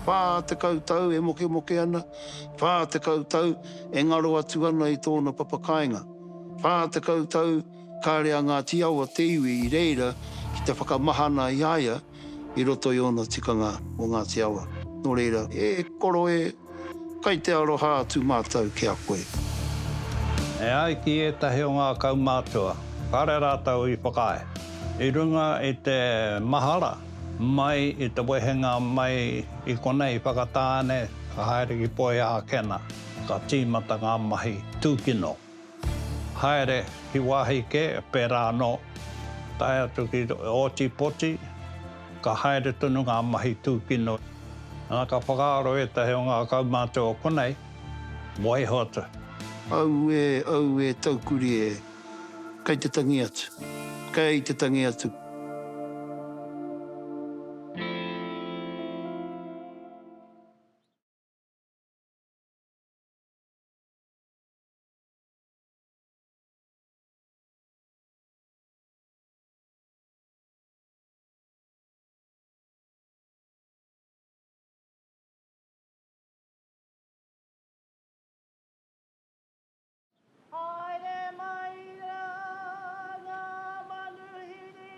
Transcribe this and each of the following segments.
Whā tekau tau e mokemoke ana, whā tekau tau e ngaro atu ana i tōna papakāinga, whā tekau tau kāre a Ngāti Awa te iwi i reira ki te whakamahana i a ia i roto i ōna tikanga mō Ngāti Awa. Nō reira, e koro e! Kai te aroha atu mātou ki a koe. E ai ki ētahi o ngā kaumātua, kāre rātou i whakaae, i runga i te mahara mai i te wehenga mai i konei Whakatāne, ka haere ki Poiākena, ka tīmata ngā mahi tūkino. Haere ki wāhi kē, pērā anō, tae atu ki Ōtipoti, ka haere tonu ngā mahi tūkino. Nā, ka whakaaro ētahi o ngā kaumātua o konei, waiho atu. Auē, auē, taukuri e! Kei te tangi atu, kei te tangi atu! Haere mai rā ngā manuhiri.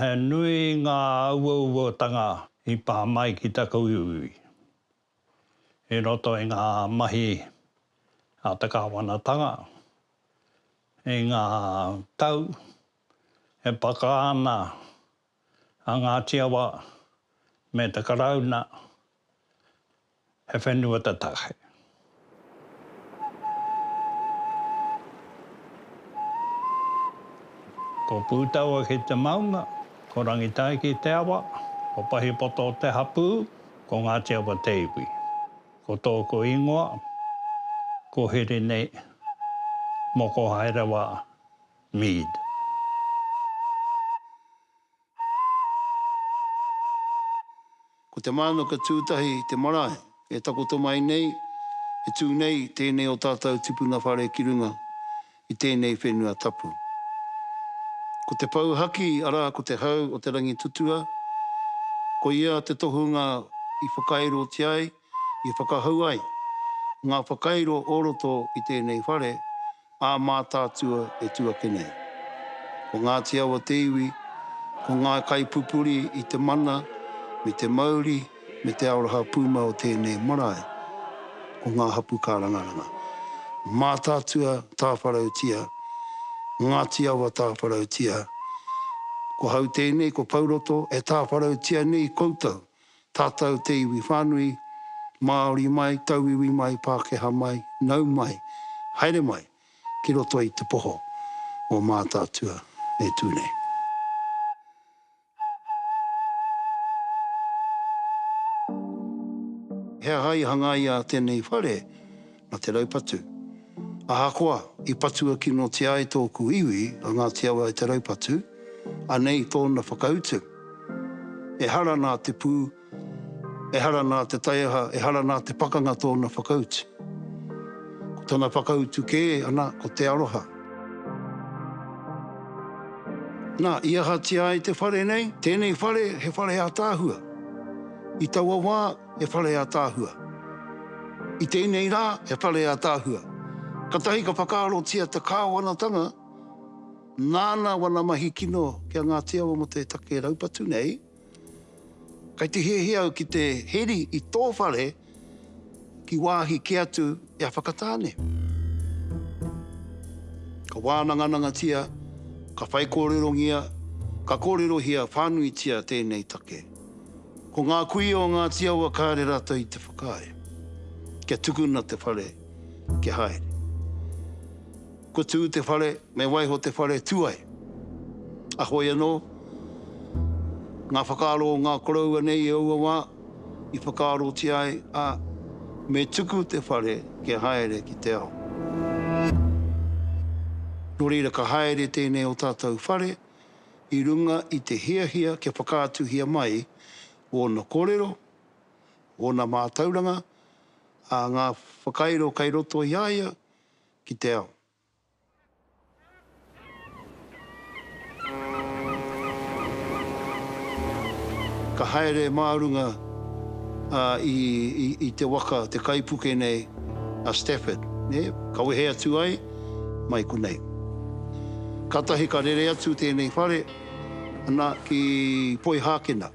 He nui ngā uauatanga i pā mai ki taku iwi i roto i ngā mahi a te kāwanatanga i ngā tau e paka ana a Ngāti Awa me te Karauna he whenua tatahi. Ko Pūtaua ki te maunga, ko Rangitai ki te awa, ko Pahipoto te hapū, ko Ngāti Awa te iwi. Ko tōku ingoa, ko Hirini Mokohaerewa Mead. Ko te mānuka tūtahi te marae e takoto mai nei, e tū nei tēnei o tātou tipuna whare ki runga i tēnei whenua tapu. Ko te pou haki, arā ko te hau o te rangi tutua, koia te tohunga i whakairotia ai, I whakahau ai ngā whakairo o roto i tēnei whare ā Mātaatua e tū ake nei. Ko Ngāti Awa te iwi, ko ngā kaipupuri i te mana me te mauri me te aroha pūmau o tēnei marae, ko ngā hapū kārangaranga. Mātaatua tāwharautia, Ngāti Awa tāwharautia, ko hau tēnei, ko Pauroto e tāwharautia nei koutou. Tātou te iwi whānui, Māori mai, tauiwi mai, Pākehā mai, nau mai, haere mai ki roto i te poho o Mātaatua e tū nei. He aha i hangaia tēnei whare? a Te Raupatu. Ahakoa i patua kinotia ai tōku iwi a Ngāti Awa e Te Raupatu, anei tōna whakautu, Ehara nā te pū, ehara nā te taiaha, ehara nā te pakanga tōna whakautu. Ko tana whakautu kē ana ko te aroha. Nā, i ahatia ai te whare nei? Tēnei whare he whare ātaahua. I taua wā, he whare ataahua. I tēnei rā, he whare ataahua. Katahi ka whakaarotia te Kāwanatanga nāna wana mahi kino ki a Ngāti Awa mō te take raupatu nei, kei te hiahia au ki te heri i tō whare ki wāhi kē atu i a Whakatāne. Ka wānanganangatia, ka whaikōrerongia, ka kōrerohia whānuitia tēnei take. Ko ngā kuia o Ngāti Awa kāre rātou i te whakaae kia tukuna te whare kia haere. Kua tū te whare, me waiho te whare, tū ai. A hoi anō, ngā whakaaro o ngā koroua nei i aua wā, i whakaarotia ai, ā, me tuku te whare kia haere ki te ao. Nō reira ka haere tēnei o tātou whare i runga i te hiahia kia whakaatuhia mai wōna kōrero, wōna mātauranga, ā, ngā whakairo kei roto i a ia ki te ao. Ka haere mā runga i te waka, te kaipuke nei a Stafford, ka wehe atu ai, mai konei. Kātahi ka rere atu tēnei whare, ana, ki Poihākena,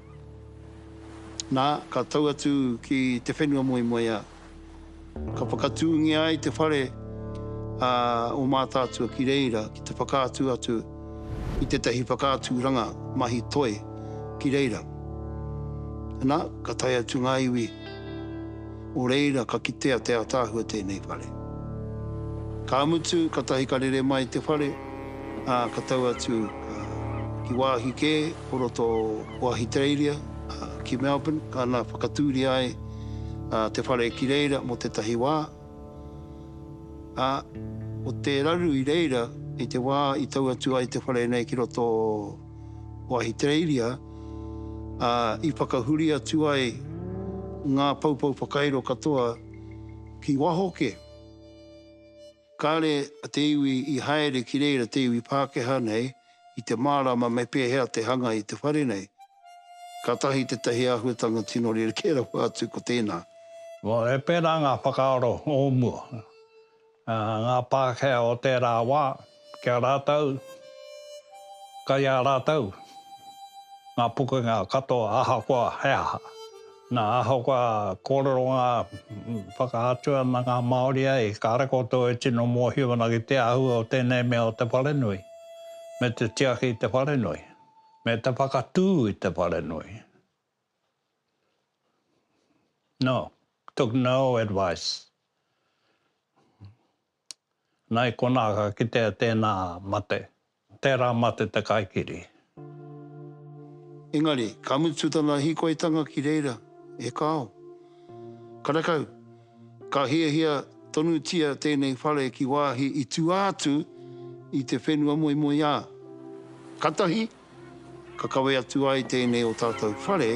nā, ka tau atu ki te whenua moemoeā. Ka whakatūngia ai te whare a ō Mātaatua ki reira ki te whakaatu atu i tētahi whakaaturanga mahi toi ki reira. Ana, ka tae atu ngā iwi Nō reira, ka kitea te ātaahua tēnei whare. Ka mutu, katahi ka rere mai te whare, ā, ka tau atu ki wāhi kē o roto o Ahitereiria, ki Melbourne, ana whakatūria ai te whare ki reira mō tētahi wā, ā, ko te raru i reira i te wā i tau atu ai te whare nei ki roto o. o Ahitereiria, ā, i whakahuri atu ai ngā poupou whakairo katoa ki waho kē. Kāre a te iwi i haere ki reira te iwi Pākehā nei i te mārama me pēhea te hanga i te whare nei. Kātahi tētahi āhuatanga tino rerekē rawa atu ko tēnā. E pērā ngā whakaaro o mua. Ā, ngā Pākehā o tērā wā, ki a rātou, kai a rātou ngā pukenga katoa ahakoa he aha. Nā, ahakoa kōrero ngā, whakaatu ana ngā Māori ai, kāre koutou e tino mōhio ana ki te āhua o tēnei mea o te wharenui, me te tiaki i te wharenui, me te whakatū i te wharenui. No, took no advice. Na i konā ka kitea tēnā mate, tērā mate te kaikiri. Engari, ka mutu tana hīkoitanga ki reira, e kāo. Karekau, ka hiahia tonutia tēnei whare ki wāhi i tua atu i te whenua moemoeā. Katahi. Ka kawe atu ai tēnei o tātou whare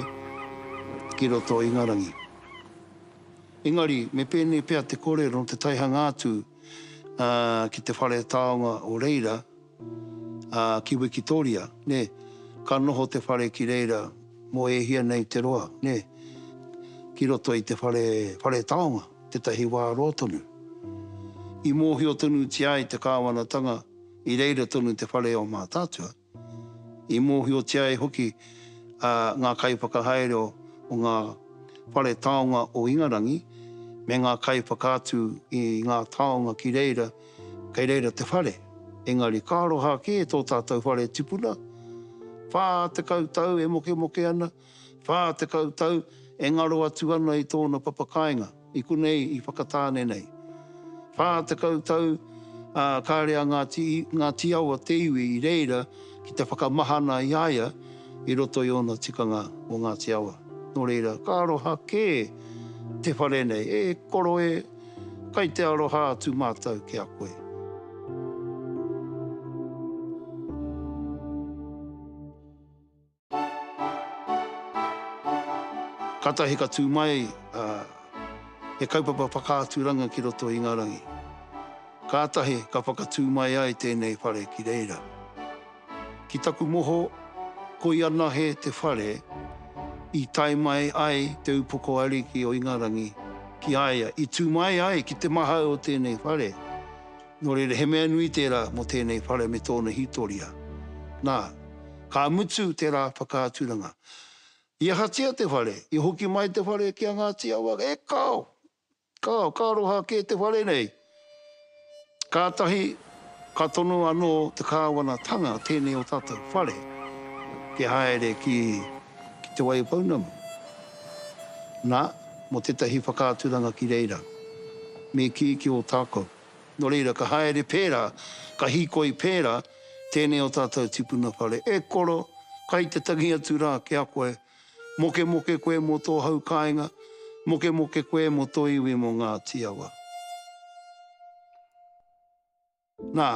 ki roto o Ingarangi. Engari, me pēnei pea te kōrero nō te taihanga atu ki te whare taonga o reira, ki Wikitoria, nē, ka noho te whare ki reira mō e hia nei te roa, nē, ki roto i te whare, whare taonga, tētahi wā roa tonu. I mōhio tonutia ai te kāwanatanga, I reira tonu te whare o Mātaatua. I mōhiotia e hoki ngā kaiwhakahaere o ngā whare taonga o Ingarangi me ngā kaiwhakaatu i ngā taonga ki reira, kei reira te whare. Engari ka aroha kē tō tātou whare tipuna, whā tekau tau e mokemoke ana, Whā tekau tau e ngaro atu ana i tōna papakāinga, i konei i Whakatāne nei. Whā tekau tau, ā, kāre a Ngāti, Ngāti Awa te iwi i reira ki te whakamahana i a ia i roto i ōna tikanga mō Ngāti Awa. Nō reira, ka aroha kē te whare nei, e koro e, kai te aroha atu mātou ki a koe. Katahi ka tū mai he kaupapa whakaaturanga ki roto i Ngarangi. Kātahi ka whakatū mai ai tēnei whare ki reira. Ki taku moho, koi anahe te whare i tae mai ai Te Upoko Ariki o Ingarangi ki a ia, i tū mai ai ki te mahau o tēnei whare. Nō reira, he mea nui tērā mō tēnei whare me tōna hītoria. Nā, ka mutu tērā whakaaturanga. I ahatia te whare? I hoki mai te whare ki a Ngāti Awa? E kāo! Kāo, ka aroha kē te whare nei! Kātahi ka tono anō te kāwanatanga tēnei o tātou whare te haere ki Te Waipounamu. Nā, mō tētahi whakaaturanga ki reira, me kī ki Ōtākou. Nō reira, ka haere pērā, ka hīkoi pērā tēnei o tātou tipuna whare. E koro, kai te tangi atu rā ki a koe. Mokemoke koe mō tō hau kāinga, mokemoke koe mō tō iwi mō Ngāti Awa. Nā,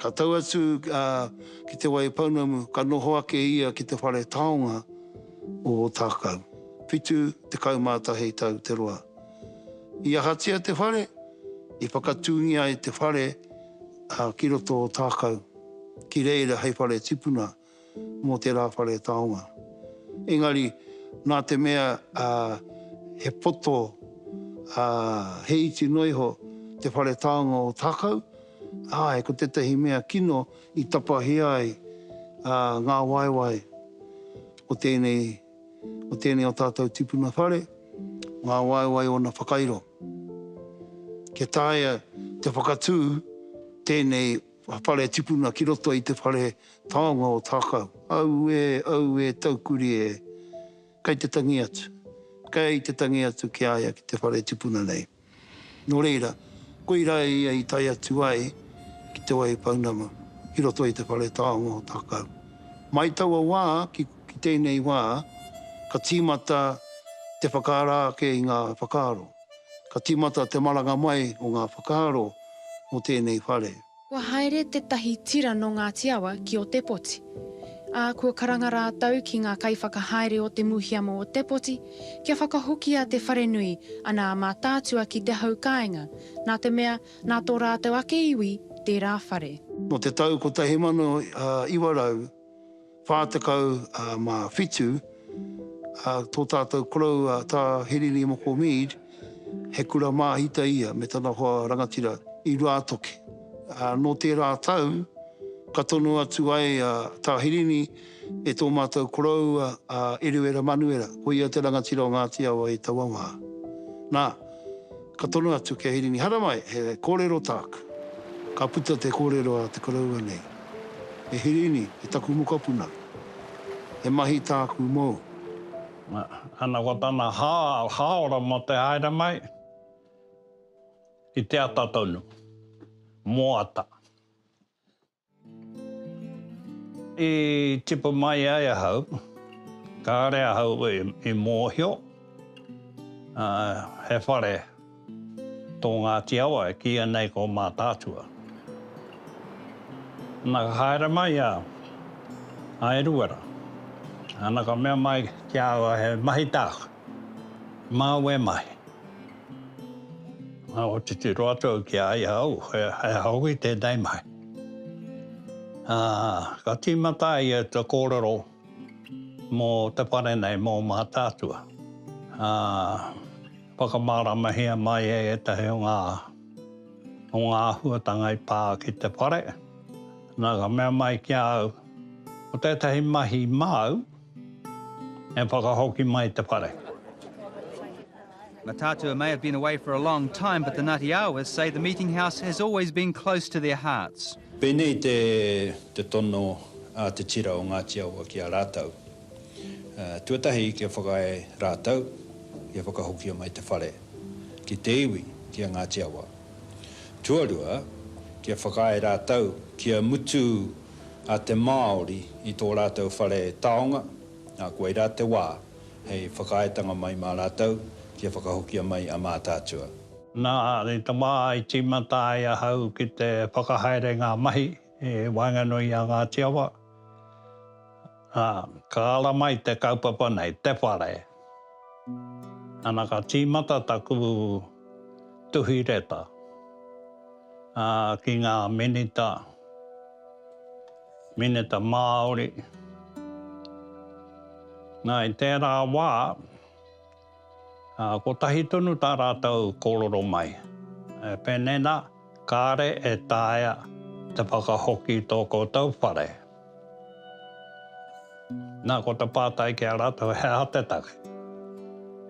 ka tau atu ki Te Waipounamu, ka noho ake ia ki te whare taonga o Ōtākou. Whitu tekau mā tahi tau te roa. I ahatia te whare? I whakatūngia ai te whare ki roto o Tākau, ki reira hei whare tipuna mō te Rā Whare Taonga. Engari, nā te mea he poto, he iti noa iho te whare taonga o Tākau, āe, ko tētahi mea kino i tapahia ai ngā waewae o tēnei Ko tēnei o tātou tipuna whare, ngā waewae ōna whakairo. Kia taea te whakatū tēnei whare tipuna ki roto i te whare taonga o Tākau. Aue, aue, taukuri e! Kei te tangi atu, kei te tangi atu ki a ia ki te whare tipuna nei. Nō reira, koirā ia i tae atu ai ki Te Wai Pounama, ki roto i te whare taonga o Takau. Mai taua wā ki tēnei wā, ka tīmata te whakaara ake i ngā whakaaro, ka tīmata te maranga mai o ngā whakaaro mō tēnei whare. Kua haere tētahi tira nō Ngāti Awa ki Ōtepoti, ā, kua karanga rātou ki ngā kaiwhakahaere o Te Muhiamo Ōtepoti kia whakahokia te wharenui a Nā Mātaatua ki te hau kāinga, nā te mea, nā tō rātou ake iwi tērā whare. Nō te tau 1900 47 a tō tātou korou a Tā Hirini Moko Mead, he kura māhita ia me tana hoa rangatira i Ruātoki. Nō tērā tau, ka tono atu ai a Tā Hirini e tō mātou koroua a Eruera Manuera, ko ia te rangatira o Ngāti Awa i taua wā. Nā. Ka tono atu ki a Hirini, Haramai, he kōrero tāku. Ka puta te kōrero a te koroua nei, E Hirini, e taku mokopuna, he mahi tāku mōu. Ana ko tana hāora mō te haere mai, i te ata tonu, mō ata. I tipu mai ai ahau, kāore ahau i mōhio he whare tō Ngāti Awa e kīia nei ko Mātaatua. Nā ka haere mai a Eruera, nā ka mea mai ki a au he mahi tāku. Māu e mahi. Nā, ko titiro atu au ki a ia, au, he aha hoki tēnei mahi. Ā, ka tīmata ia i te kōrero mō te whare nei, mō Mātaatua. Ā, whakamāramahia mai e ētahi o ngā, o ngā āhuatanga i pā ki te whare. Nā, ka mea mai ki a au, ko tētahi mahi māu, E whakahoki mai te whare. Mataatua may have been away for a long time but the Ngati Awas say the meeting house has always been close to their hearts. Pēnei te te tono a te tira o Ngāti Awa ki a rātou. Tuatahi kia whakaae rātou kia whakahokia mai te whare ki te iwi ki a Ngāti Awa. Tuarua kia whakaae rātou kia mutu a te Māori i tō rātou whare taonga, ā, koirā te wā hei whakaaetanga mai mā rātou kia whakahokia mai a Mātaatua. Nā te tama i tīmata ai ahau ki te whakahaere ngā mahi i waenganui i a Ngāti Awa. Ā, ka ara mai te kaupapa nei, te whare. Ana ka tīmata taku tuhi reta, ā, ki ngā minita, minita Māori. Nā, i tērā wā. Ā, kotahi tonu tā rātou kōrero mai, e pēnei nā, Kāre e taea te whakahoki i tō koutou whare. Nā, ko te pātai ki a rātou, he aha te take?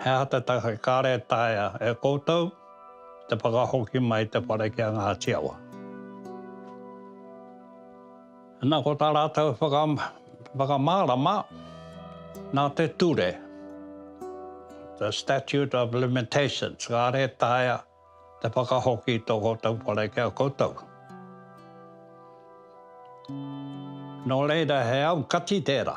He aha te take kāre e taea e koutou te whakahoki mai te whare ki a Ngāti Awa? Nā, ko tā rātou whakamārama, nā te ture, the statute of limitations, kāre e taea te whakahoki i tō koutou whare ki a koutou. Nō reira, he aukati tērā.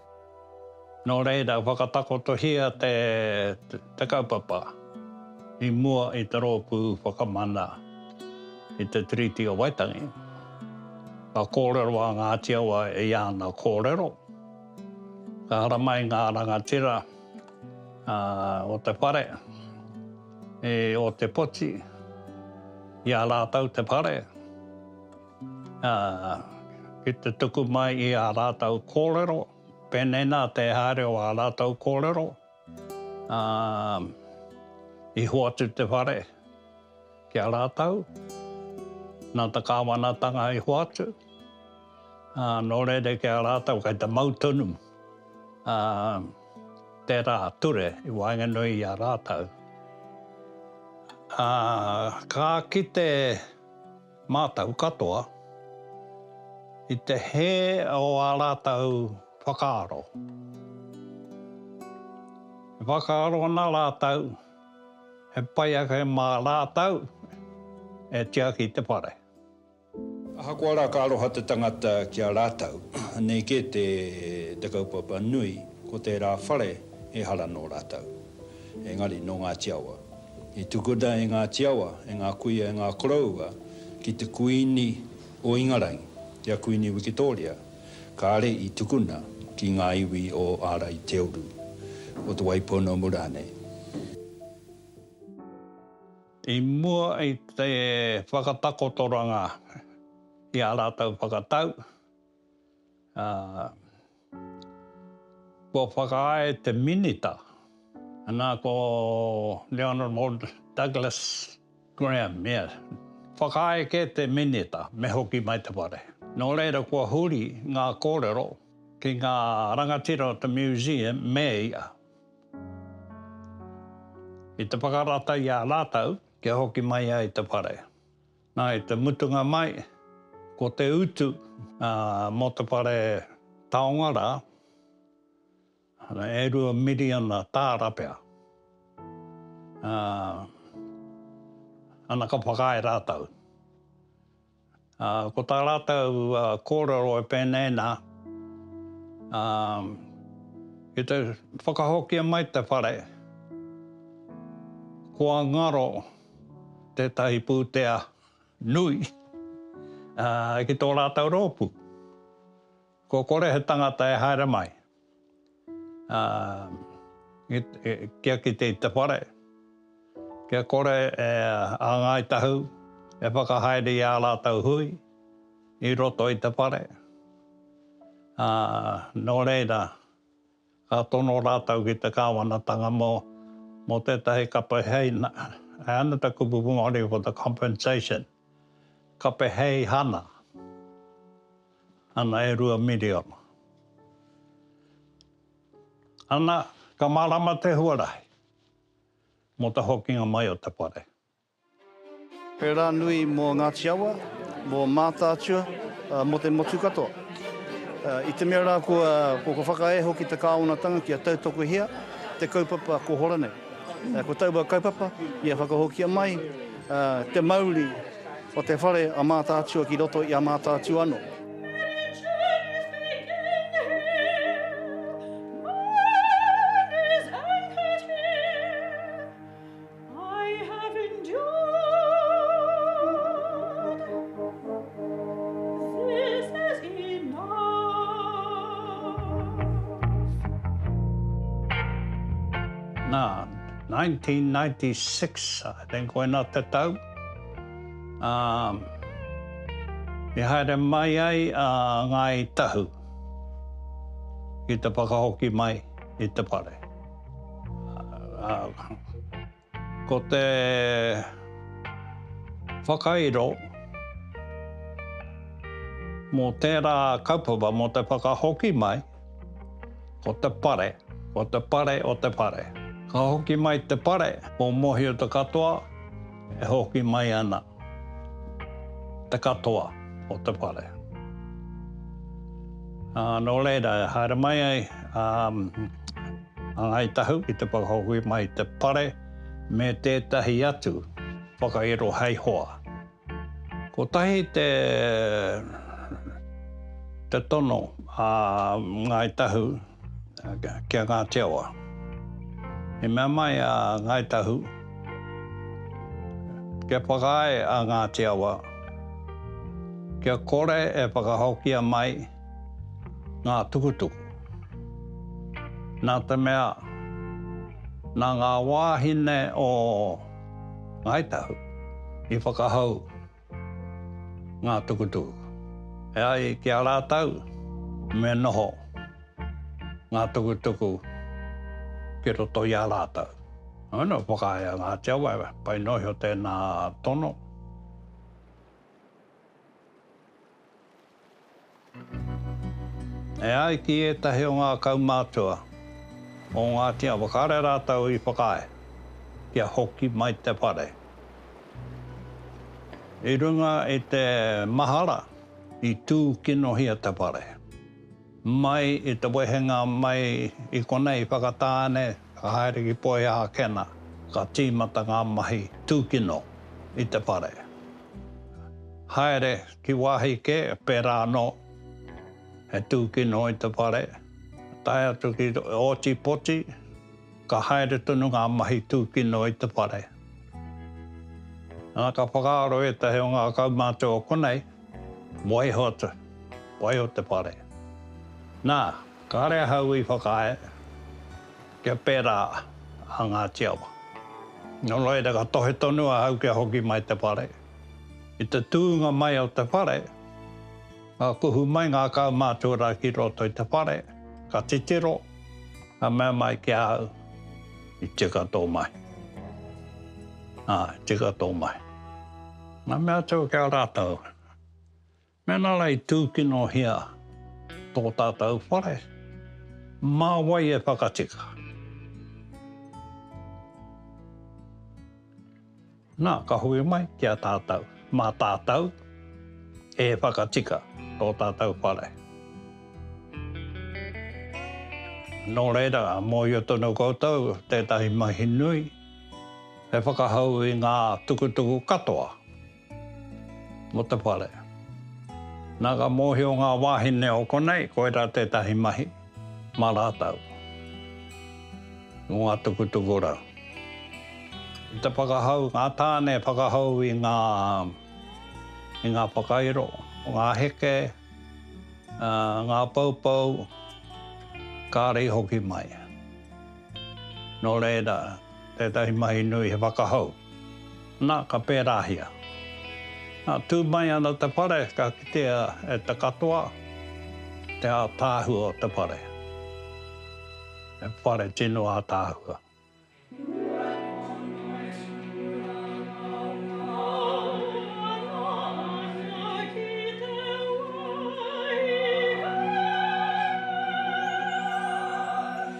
Nō reira, whakatakotohia te kaupapa i mua i te rōpū whakamana i te Tiriti o Waitangi. Ka kōrero a Ngāti Awa i ana kōrero, ka haramai ngā rangatira o te whare i Ōtepoti i a rātou te whare, Ā, ki te tuku mai i ā rātou kōrero, pēnei nā te haere o ā rātou kōrero, ā, i hoatu te whare ki a rātou, nā te kāwanatanga i hoatu, ā, nō reira ki a rātou kei te mau tonu, ā, tērā ture i waenganui i a rātou. Ā, ka kite. Mātou katoa, i te hē o ā rātou whakaaro. E whakaaro ana rātou, he pai ake mā rātou e tiaki te whare. Ahakoa rā ka aroha te tangata ki a rātou, nei kē te kaupapa nui, ko tērā whare ehara nō rātou. Engari, nō Ngāti Awa, I tukuna e Ngāti Awa, e ngā kuia, e ngā koroua ki te Kuini o Ingarangi, ki a Kuini Wikitōria, kāre i tukuna ki ngā iwi o Āraiteuru, o Te Waipounamumu rānei. I mua i te whakatakotoranga i ā rātou whakatau, Ā, kua whakaae te Minita, nā, ko The Honourable Douglas Graham, ia. Whakaae kē te Minita me hoki mai te whare. Nō reira kua huri ngā kōrero ki ngā rangatira o te Museum me ia i te whakarata i a rātou kia hoki mai ai te whare. Na i te mutunga mai, ko te utu mo te whare taonga ra, e rua miriona taara pea. Ana ka whakaae ratou. Ko ta ratou korero e penei na, ki te whakahokia mai te whare, kua ngaro tētahi pūtea nui ki tō rātou rōpū. Kua kore he tangata e haere mai kia kite i te whare, kia kore a Ngāi Tahu e whakahaere i ā rātou hui i roto i te whare. Nō reira. Ka tono rātou ki te kāwanatanga mō mō tētahi kape hei, he anata kupukupu Māori ko te compensation, kape hei hana, ana e rua miriona. Ana, ka mārama te huarahi mō te hokinga mai o te whare. He rā nui mō Ngāti Awa, mō Mātaatua, mō te motu katoa. I te mea rā kua kua whakaae hoki te kāwanatanga kia tautokohia te kaupapa kohora nei. Ko taua kaupapa ia whakahokia mai te mauri o te whare a Mātaatua ki roto i a Mātaatua anō. I have endured, this is enough. Nā, 1996, I think, koinā te tau, ā, i haere mai ai a Ngāi Tahu ki te whakahoki mai i te whare. Ko te whakairo mō tērā kaupapa, mō te whakahoki mai, ko te pare, ko te pare o te whare. Ka hoki mai te pare, ko Mōhio Te Katoa e hoki mai ana. Te katoa o te whare. Nō reira, e haere mai ai a Ngāi Tahu ki te whakahoki mai i te whare me tētahi atu whakairo hei hoa. Kotahi te tono a Ngāi Tahu. ki a Ngāti Awa. I mea mai a Ngāi Tahu, kia whakaae a Ngāti Awa, kia kore e whakahokia mai ngā tukutuku. Nā te mea, nā ngā wāhine o Ngāi Tahu i whakahau. Ngā tukutuku. E ai ki a rātou, me noho ngā tukutuku ki roto i a rātou. Heoi, whakaae a Ngāti Awa, e pai noa iho tēnā tono. E ai ki ētahi o ngā kaumātua o Ngāti Awa kāre rātou i whakaae kia hoki mai te whare i runga i te mahara i tūkinohia te whare. Mai i te wehenga mai i konei i whakatā nei, ka haere ki Poiākena, ka tīmata ngā mahi tūkino i te whare. Haere ki wāhi kē, pērā anō, he tūkino i te whare, tae atu ki Ōtepoti, ka haere tonu ngā mahi tūkino i te whare. Nā, ka whakaaro ētahi o ngā kaumātua o konei, Waiho atu, waiho te whare. Nā, kāre ahau i whakaae kia pērā a Ngāti Awa. Nō reira ka tohe tonu ahau kia hoki mai te whare. I te tūnga mai o te whare, ka kuhu mai ngā kaumātua ki roto i te whare, ka titiro, ka mea mai ki ahau, I tika tō mahi. Ā, i tika tō mahi. Ngā mea tau ki a rātou. Mēnā la i tūkinohia tō tātou whare, mā wai e whakatika? Nā, ka hui mai ki a tātou, mā tātou e whakatika tō tātou whare. Nō reira, mōhio tonu koutou tētahi mahi nui, He whakahau i ngā tukutuku katoa mō te whare. Nā ka mōhio ngā wāhine o konei koirā tētahi mahi mā rātou mō ngā tukutuku rau. I te whakahau, ngā tāne e whakahau i ngā i ngā whakairo, ngā heke, ngā poupou, kāri hoki mai. Nō reira, tētahi mahi nui he whakahou. Nā, ka pērāhia. Nā, tū mai ana te whare, ka kitea e te katoa te ātaahua o te whare. He whare tino ātaahua.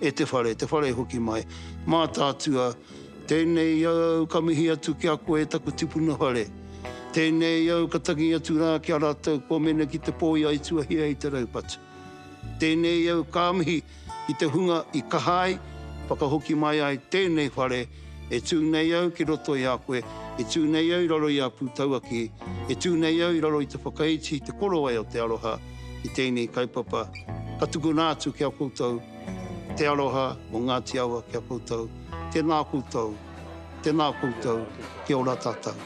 e te whare, te whare hoki mai. Mātaatua, Tēnei au ka mihi atu ki a koe e taku tipuna whare. Tēnei au ka tangi atu rā ki a rātou kua mene ki te pō i a Ituahia i te raupatu. Tēnei au ka mihi ki te hunga i kaha ai, whakahoki mai ai tēnei whare, E tū nei au ki roto i a koe, e tū nei au i raro i a Pūtauaki, e tū nei au i raro i te whakaiti i te korowai o te aroha ki tēnei kaupapa, ka tukuna atu ki a koutou te aroha o Ngāti Awa ki a koutou, tēnā koutou, tēnā koutou, kia ora tātou.